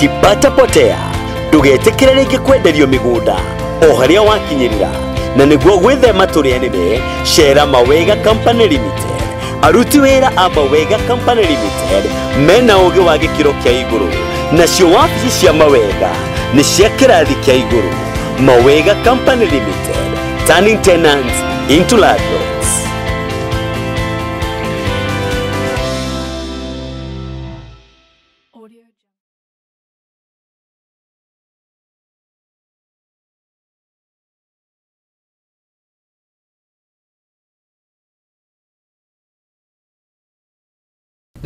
tipatapotea ndũgetĩkĩre rĩngĩ kwenderio mĩgũnda o harĩa wakinyĩrĩra na nĩguo gwĩthema tũrĩa nĩme cera mawega company limited aruti wĩra a mawega company limited mena ũgĩ wa gĩkĩro kĩa igũrũ nacio wabici cia mawega nĩ cia kĩrathi kĩa igũrũ mawega company limited turning tenants into landlords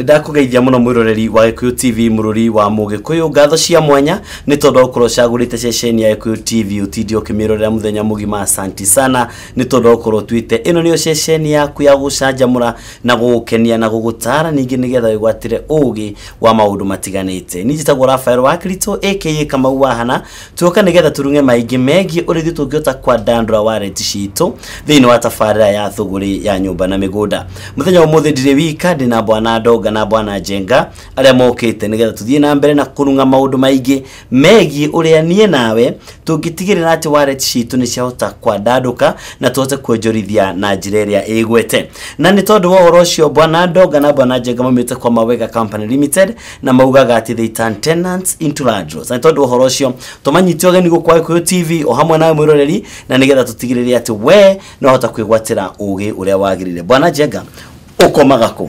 ndakũgeithia mũno mwĩroreri wa gĩkũyũ tv mũrũri wa mũgĩkũyũ ngatho cia mwanya nĩ tondũ gũkorwo ũcagũrĩte ceceni ya gĩkũyũ tv ũtinde ũkĩmĩrorera mũthenya mũgima asanti sana nĩ tondũ gũkorwo tuĩte ĩno nĩyo ceceni yaku ya gũcanjamũra na gũgũkenia na gũgũtaara ningĩ nĩgetha wĩgwatĩre ũũgĩ wa maũndũ matiganĩte. Niĩ njĩtagwo Rafael wa Kristo aka Kamau Wahana, tuoka nĩgetha tũrung'e maingĩ megiĩ ũrĩa ithuĩ tũngĩhota kwandandũra wallet citũ thĩinĩ wa tabarĩra ya thũgũrĩ ya nyũmba na mĩgũnda. Mũthenya wa ũmũthĩ ndirĩ wika, ndĩ na bwana Ndonga na bwana Njenga arĩa mokĩte nĩgetha tũthiĩ na mbere na kũrung'a maũndũ maingĩ megiĩ ũrĩa niĩ nawe tũngĩtigĩrĩra atĩ wallet citũ nĩ ciahota kwandandũka na tũhote kuonjorithia na njĩra ĩrĩa ĩgwete na nĩ tondũ wa ũhoro ũcio bwana ndonga na bwana njenga maumĩte kwa mawega company limited na maugaga atĩ they turn tenants into landlords na nĩ tondũ wa ũhoro ũcio tũmanyite ũgeni gũkũ kwa gĩkũyũ tv o hamwe nawe mwĩroreri na nĩgetha tũtigĩrĩre atĩ we no hota kwĩgwatĩra ũgĩ ũrĩa wagĩrĩire bwana njenga ũkomaga kũ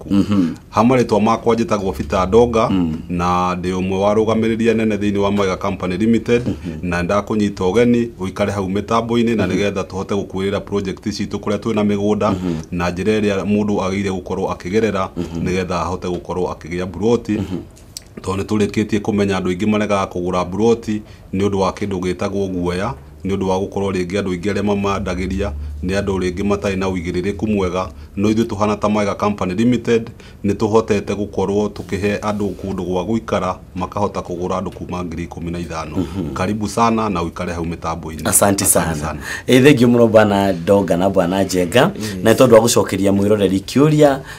maku mm -hmm. ha marĩtwa makwa njĩtagwo Peter Ndonga mm -hmm. na ndĩ ũmwe wa rũgamĩrĩria nene thĩinĩ wa Mwega Company Limited mm -hmm. na ndakũnyita ũgeni ũikare hau mĩtambo-inĩ na mhm. nĩgetha tũhote gũkuĩrĩra project citũ kũrĩa twĩ na mĩgũnda mm -hmm. na njĩra ĩrĩa mũndũ agĩire gũkorwo akĩgerera mm -hmm. nĩgetha ahote gũkorwo akĩgĩa mburoti mm -hmm. tondũ nĩ tũrĩkĩtie kũmenya andũ aingĩ maregaga kũgũra mburoti nĩ ũndũ wa kĩndũ gĩtagwo guoya, nĩ ũndũ wa gũkorwo rĩngĩ andũ aingĩ arĩa mamandagĩria nĩ andũ rĩngĩ matarĩ na ũigĩrĩrĩku mwega, no ithuĩ tũhana ta Mwega Company Limited, nĩ tũhotete gũkorwo tũkĩhe andũ kũndũ gwa gũikara makahota kũgũra andũ kuma ngiri ikũmi na ithano. Karibu sana na ũikare hau mĩtambo-inĩ. Asanti sana. Ĩ thengiũ mũno bwana Ndonga na bwana Njenga na nĩ tondũ wa gũcokeria mwĩroreri kĩũria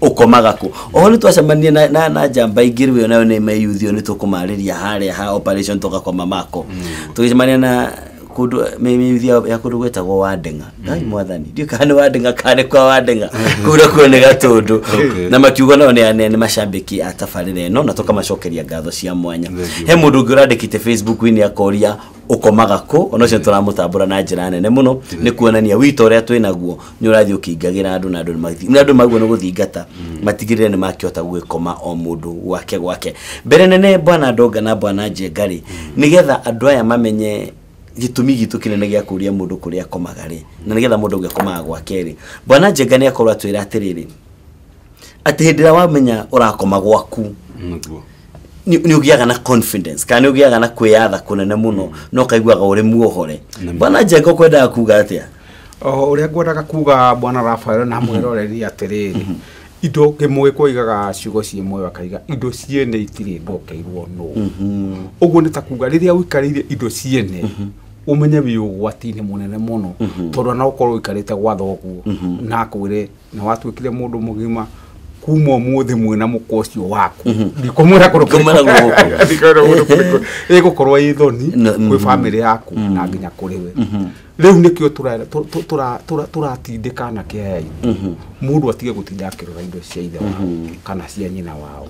ũkomaga kũ oho nĩ twacemanirie na, na, na njamba ingĩ rĩu ĩyo nayo nĩ meyuthi ĩyo nĩ tũkũmarĩria harĩa ha operation tũgakoma mako tũgĩcemania na kundu mĩyuthi ya ya kundu gwĩtagwo wandenga ngai mwathani ndiũ kana nĩ wandenga kana nĩ kwa wandenga kuu nakuo nĩ gatũndũ Okay. na makiugo nao nĩ nĩ- nĩ macambĩki a tabarĩra ĩno na tũkamacokeria ngatho cia mwanya Thank you. he mũndũ ũngĩ ũrandĩkĩte facebook-inĩ akoria ũkomaga kũ ona ũcio tũramũtambũra na njĩra nene mũno nĩ kuonania wito ũrĩa twĩ naguo nĩ ũrathiĩ ũkĩingagĩra andũ na andũ nĩ magĩthi- na andũ maguo nĩ gũthingata matigĩrĩre nĩ makĩhota gũgĩkoma o mũndũ gwake gwake mbere nene bwana ndonga na bwana njenga rĩ nĩgetha andũ aya mamenye gĩtũmi gitũ kĩnene gĩa kũria mũndũ kũrĩa akomaga rĩ na nĩgetha mũndũ ũngĩ akomaga gwake rĩ bwana njenga nĩ akorwo atwĩra atĩrĩrĩ atĩ hĩndĩ ĩrĩa wamenya ũrakoma gwaku nĩguo nĩ nĩ ũgĩaga na confidence kana nĩ ũgĩaga na kwĩyatha kũnene mũno na ũkaiguaga ũrĩ muohore Nĩ ma. bwana njenga ũkwendaga kuga atĩa o ũrĩa ngwendaga kuga bwana rafael na mwĩroreri atĩrĩrĩ indo kĩmũgĩkwa igaga ciugo ciĩ muoyo akaiga indo ciene itirĩ ndokeirwo nũ ũguo nĩ ta kuga rĩrĩa ũikarĩire indo ciene ũmenye wĩ ũgwati-inĩ mũnene mũno tondũ no ũkorwo ũikarĩte gwa thoguo na akwĩre na watuĩkire mũndũ mũgima kuma ũmũthĩ mwĩna mũkwa ũcio waku ndikũmwĩra kũndũ Ndikũmwĩra kũrĩkũ. gũkũ. Ndikũmwĩra kũndũ kũrĩkũ. ĩgũkorwo ĩ thoni No, kwĩ mhm. bamĩrĩ yaku na nginya kũrĩ we rĩu nĩkĩo tũra- tũ- tũ- tũra- tũra- tũratindĩka na kĩaya itũ mũndũ atige gũtinda akĩrora indo cia ithe wao kana cia nyina wao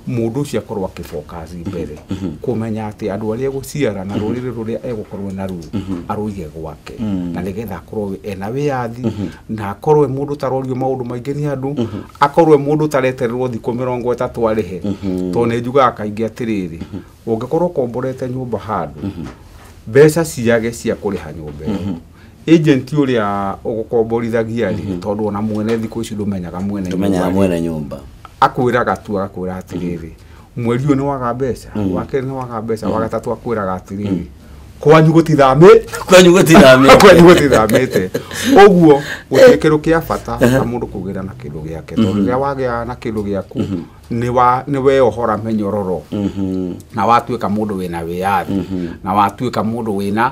mũndũ ũcio akorwo akĩbokaci mbere kũmenya atĩ andũ arĩa egũciara na rũrĩrĩ rũrĩa egũkorwo naruo arũige gwake na nĩgetha akorwo ena wĩyathi na akorwe mundu tarorio maundu maingi ni andu mhm. akorwe mundu taretererwo thiku mirongo itatu arihe mhm. to ne njugaga kaingi atiriri mhm. ungikorwo komborete nyumba handu mbeca ciage cia kuriha nyumba iyo agent uria ugukomborithagia ri tondu ona mwene thiku ici ndumenyaga mwene nyumba akwiraga tu agakwira atiriri mweri ũyũ nĩ waga mbeca wa kerĩ nĩ waga mbeca wa gatatũ akwĩraga atĩrĩrĩ kwanyu gũtithamĩte kwanyu gũtithamĩte kwanyu gũtithamĩte ũguo gũtuĩke rũ kĩa bata na mũndũ kũgĩra na kĩndũ gĩake tondũ rĩrĩa wagĩa na kĩndũ gĩaku nĩ wa- nĩ weohora mĩnyororo na watuĩka mũndũ wĩna wĩyathi na watuĩka mũndũ wĩna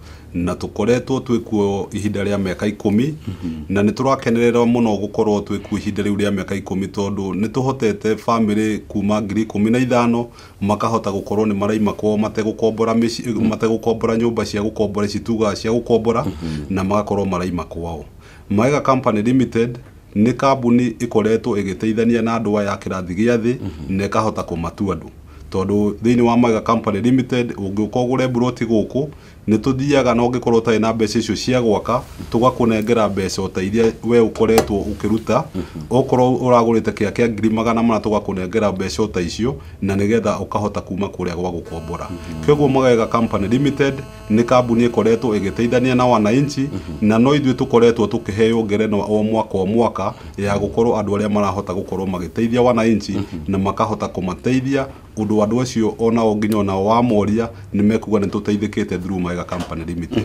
na tũkoretwo twĩ kuo ihinda rĩa mĩaka ikũmi na nĩ tũrakenerera mũno gũkorwo twĩ kuo ihinda rĩu rĩa mĩaka ikũmi tondũ nĩ tũhotete bamĩrĩ kuma ngiri ikũmi na ithano makahota gũkorwo nĩ maraima kwao mategũkombora mĩci- mategũkombora nyũmba cia gũkombora ici tugaga cia gũkombora na magakorwo maraima kwao Maega Company Limited Nĩ kambuni ĩkoretwo ĩgĩteithania na andũ aya a kĩrathi gĩa thĩ na ĩkahota kũmatu andũ. Tondũ thĩinĩ wa Mwega Company Limited, ũngĩũka ũgũre mburoti gũkũ, nĩ tũthiaga na ũngĩkorwo ũtarĩ na mbeca icio cia gwaka, tũgakũnengera mbeca o ta iria we ũkoretwo ũkĩruta. Okorwo ũragũrĩte kĩya kĩa ngiri magana mana tũgakũnengera mbeca o ta icio, na nĩgetha ũkahota kuuma kũrĩa gwa gũkombora. Kwoguo Mwega Company Limited Nĩ kambuni ĩkoretwo ĩgĩteithania na wananchi na no ithuĩ tũkoretwo tũkĩheo ngerenwa o mwaka o mwaka ya gũkorwo andũ arĩa marahota gũkorwo magĩteithia wananchi na makahota kũmateithia ũndũ andũ acio onao nginya onao wamoria nĩ mekuga nĩ tũteithĩkĩte through Maega Company Limited.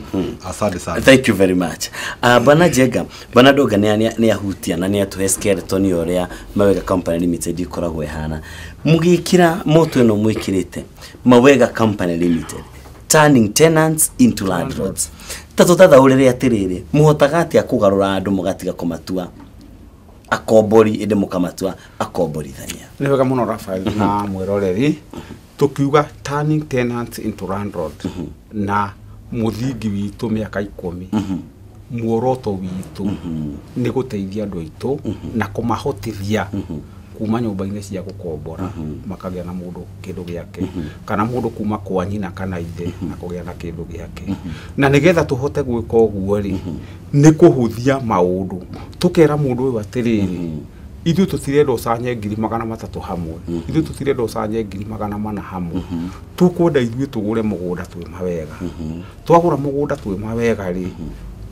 Asante sana. thank you very much uh, bana jenga bana ndonga nä ahutia na nä atåhe skeleton ya å rä a mawega company limited ikoragwo ihana må gä kä ra moto ä no mwä kä rä te mawega company limited turning tenants into landlords ta tũtathaũrĩre atĩrĩrĩ mũhotaga atĩa kũgarũra andũ mũgatiga kũmatua akombori ĩndĩ mũkamatua akomborithania nä wega må no rafael na mwä roreri tå kiuga turning tenants into landlord na må thingi witå mä aka ikå mi muoroto witũ nĩ gũteithia andũ aitũ na kũmahotithia kuma nyũmba-inĩ cia gũkombora makagĩa na mũndũ kĩndũ gĩake kana mũndũ kuma kwa nyina kana ithe na kũgĩa na kĩndũ gĩake na nĩgetha tũhote gwĩka ũguo rĩ nĩ kũhũthia maũndũ tũkera mũndũ ũyũ atĩrĩrĩ ithuĩ tũtirenda ũcanye ngiri magana matatũ hamwe ithuĩ tũtirenda ũcanye ngiri magana mana hamwe tũkwenda ithuĩ tũgũre mũgũnda twĩ mawega twagũra mũgũnda twĩma wega rĩ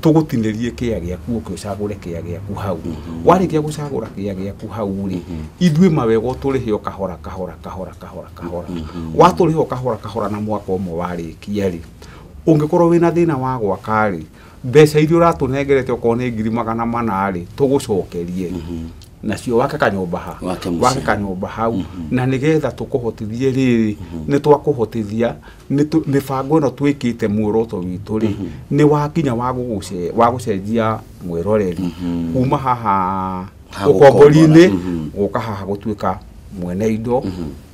tũgũtinĩrie kĩa gĩaku ũke ũcagũre kĩa gĩaku hau warĩkia gũcagũra kĩa gĩaku hau rĩ ithuĩ mawega ũtũrĩhe o kahora kahora kahora kahora kahora watũrĩha o kahora kahora na mwaka ũmwe warĩkia rĩ ũngĩkorwo wĩna thĩna wa gwaka rĩ mbeca iria ũratũnengerete okorwo nĩ ngiri magana mana rĩ tũgũcokerie nacio wake kanyũmba ha Wake mũciĩ. wake kanyũmba hau na nĩgetha tũkũhotithie rĩrĩ nĩ twakũhotithia nĩ tũ- mĩbango ĩno twĩkĩte muoroto witũ rĩ nĩ wakinya wa gũgũce- wa gũcenjia mwĩroreri kuma haha Ha ũkombori-inĩ gũkombora, mhm. gũka haha gũtuĩka mwene indo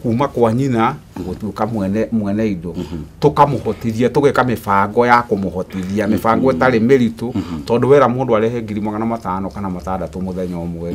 kuma kwa nyina gũtuĩka mwene mwene indo tũkamũhotithia tũgeka mĩbango ya kũmũhotithia mĩbango ĩtarĩ mĩritũ tondũ wera mũndũ arehe ngiri magana matano kana matandatũ mũthenya ũmwe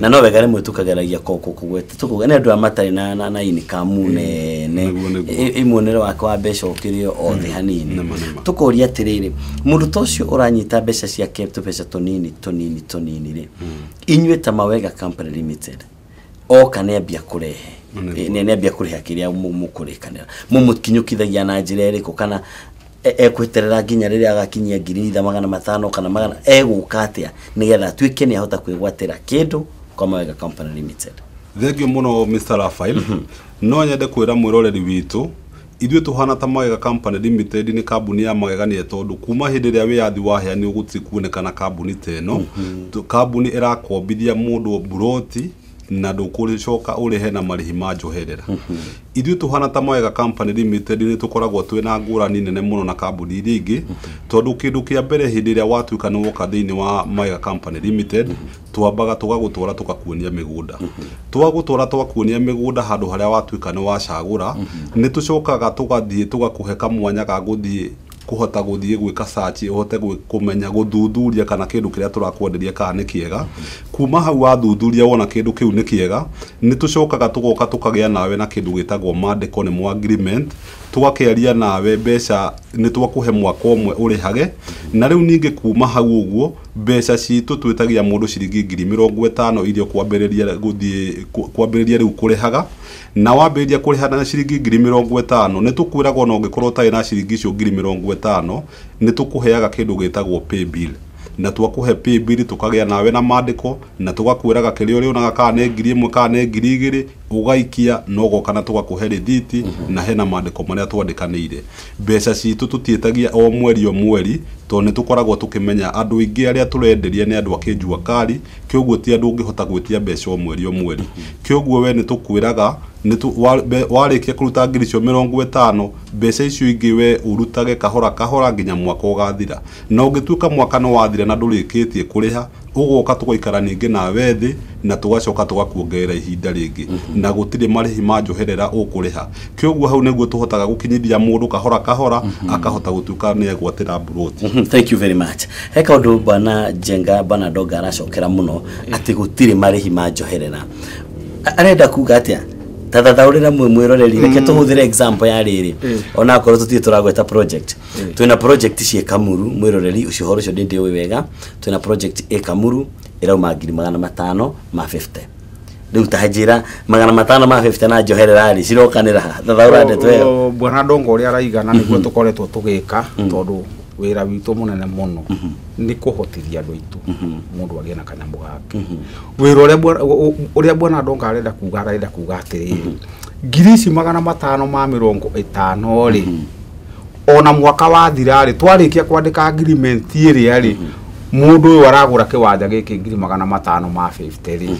na no wega rĩmwe tũkageragia kũgweta tũkauga nĩ andũ a matarĩ na na na inikamu nene Nĩguo, nĩguo. ĩ- ĩ muonere wake wa mbeca ũkĩrĩ o thĩ hanini Nĩma, nĩma. tũkoria atĩrĩrĩ mũndũ ta ũcio ũranyita mbeca ciake tũbeca tũnini tũnini tũnini rĩ inyuĩ ta mawega company limited oka nĩ ambia kũrehe Nĩguo. Ĩ, nĩ nĩ ambia kũrĩha kĩrĩa mũ- mũkũrĩkanĩra mũmũkinyũkithagia na njĩra ĩrĩkũ kana e- ekweterera nginya rĩrĩa agakinyia ngiri itha magana matano kana magana egũka atĩa nĩgetha atuĩke nĩ ahota kwĩgwatĩra kĩndũ kwa mawega company limited thengio muno mr rafael no nyende kwira mwiroreri witũ ithuĩ tũhana ta magega company limited nĩ kambuni ya magegania tondũ kuma hĩndĩ ĩrĩa wĩyathi waheanirwo gũtirĩ kuonekana kambuni ta ĩno Tu- kambuni ĩrakombithia mũndũ mburoti na ndũkũrĩcoka ũrĩhe na marĩhi ma njoherera ithuĩ tũhana ta mawega company limited nĩ tũkoragwo twĩ na ngũrani nene mũno na kambuni iria ingĩ tondũ kĩndũ kĩa mbere hĩndĩ ĩrĩa watuĩka nĩ woka thĩinĩ wa mawega company limited twambaga tũgagũtwara tũkakuonia mĩgũnda twagũtwara twakuonia mĩgũnda handũ harĩa watuĩka nĩ wacagũra nĩ tũcokaga tũgathiĩ tũgakũhe kamwanya ga gũthiĩ kũhota gũthiĩ gwĩka search ũhote kũmenya gũthuthuria kana kĩndũ kĩrĩa tũrakwenderia kana nĩ kĩega, kuma hau wathuthuria wona kĩndũ kĩu nĩ kĩega, nĩ tũcokaga tũgoka tũkagĩa nawe na kĩndũ gĩtagwo mandĩko nĩmo agreement, tũgakĩaria nawe mbeca nĩ twakũhe mwaka ũmwe ũrĩhage, na rĩu ningĩ kuma hau ũguo, mbeca citũ twĩtagia mũndũ ciringi ngiri mĩrongo ĩtano iria ũkwambĩrĩria gũthiĩ kwambĩrĩria rĩu kũrĩhaga. Na wambĩrĩria kũrĩha na ciringi ngiri mĩrongo ĩtano, nĩ tũkwĩraga o na ũngĩkorũo ũtarĩ na ciringi icio ngiri mĩrongo ĩtano, nĩ tũkũheaga kĩndũ gĩtagwo paybill. Na twakũhe paybill, tũkagĩa nawe na maandĩko, na tũgakwĩraga kĩrĩa ũrĩonaga kana nĩ ngiri ĩmwe kana nĩ ngiri igĩrĩ, ũgaikia na ũgoka na tũgakũhe rĩthiti, na hena maandĩko marĩa twandĩkanĩire. Mbeca citũ tũtiĩtagia o mweri o mweri, tondũ nĩ tũkoragwo tũkĩmenya andũ aingĩ arĩa tũrenderia nĩ andũ a kĩnjua kari, Kĩoguo ti andũ ũngĩhota gwĩtia mbeca o mweri o mweri. Kĩoguo we nĩ tũkwĩraga nĩ tũ, wa, mbe, warĩkia kũruta ngiri icio mĩrongo ĩtano, mbeca icio ingĩ we ũrutage kahora kahora nginya mwaka ũgathira. Na ũngĩtuĩka mwaka nĩ wathira na ndũrĩkĩtie kũrĩha, ũgoka tũgaikara ningĩ nawe thĩ na tũgacoka tũgakuongerera ihinda rĩngĩ. Na gũtirĩ marĩhi ma njoherera ũkũrĩha. Kyoguo hau nĩguo tũhotaga gũkinyithia mũndũ kahora kahora akahota gũtuĩka nĩ egwatĩra mburoti. Mhm, Thank you very much. He kaundu bwana Jenga bwana Donga aracokera muno ati gutiri marihi ma njoherera. A- Arenda kuga atia? Ta thathaurira mwe mwiroreri reke tuhuthire example ya riri. Ona akorwo tutire turagweta project. Twina project cie Kamuru mwiroreri ucio horo ucio ndi ndiwi wega. Twina project e Kamuru irauma ngiri magana matano ma 50. rĩu ta njĩra magana matano ma 50 na njoherera rĩ cirokanĩra ha? thathaũra ndeto ĩyo O- o- bwana ndongo ũrĩa araiga na nĩguo tũkoretwo tũgĩka tondũ wĩra witũ mũnene mũno nĩ kũhotithia andũ aitũ mũndũ agĩe na kanyamũ gake wĩra ũrĩa bwana- ũ- ũ- ũrĩa bwana ndongo arenda kuga arenda kuga atĩrĩrĩ ngiri ici magana matano ma mĩrongo ĩtano rĩ ona mwaka wathira rĩ twarĩkia kwandĩka agreement ĩrĩa rĩ mũndũ ũyũ aragũra kĩwanja gĩkĩ ngiri magana matano ma 50 rĩ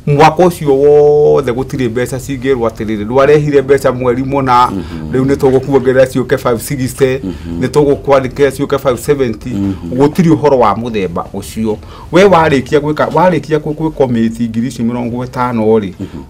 mwaka ũcio wothe gũtirĩ mbeca cingĩrwo atĩrĩrĩ ndwarehire mbeca mweri mũna rĩu nĩ tũgũkuongerera ciũke 560 nĩ tũgũkwandĩkĩra ciũke 570 gũtirĩ ũhoro wa mũthemba ũcio we warĩkia gwĩka warĩkia kwĩ- kwĩ komĩti ngiri icio mĩrongo ĩtano rĩ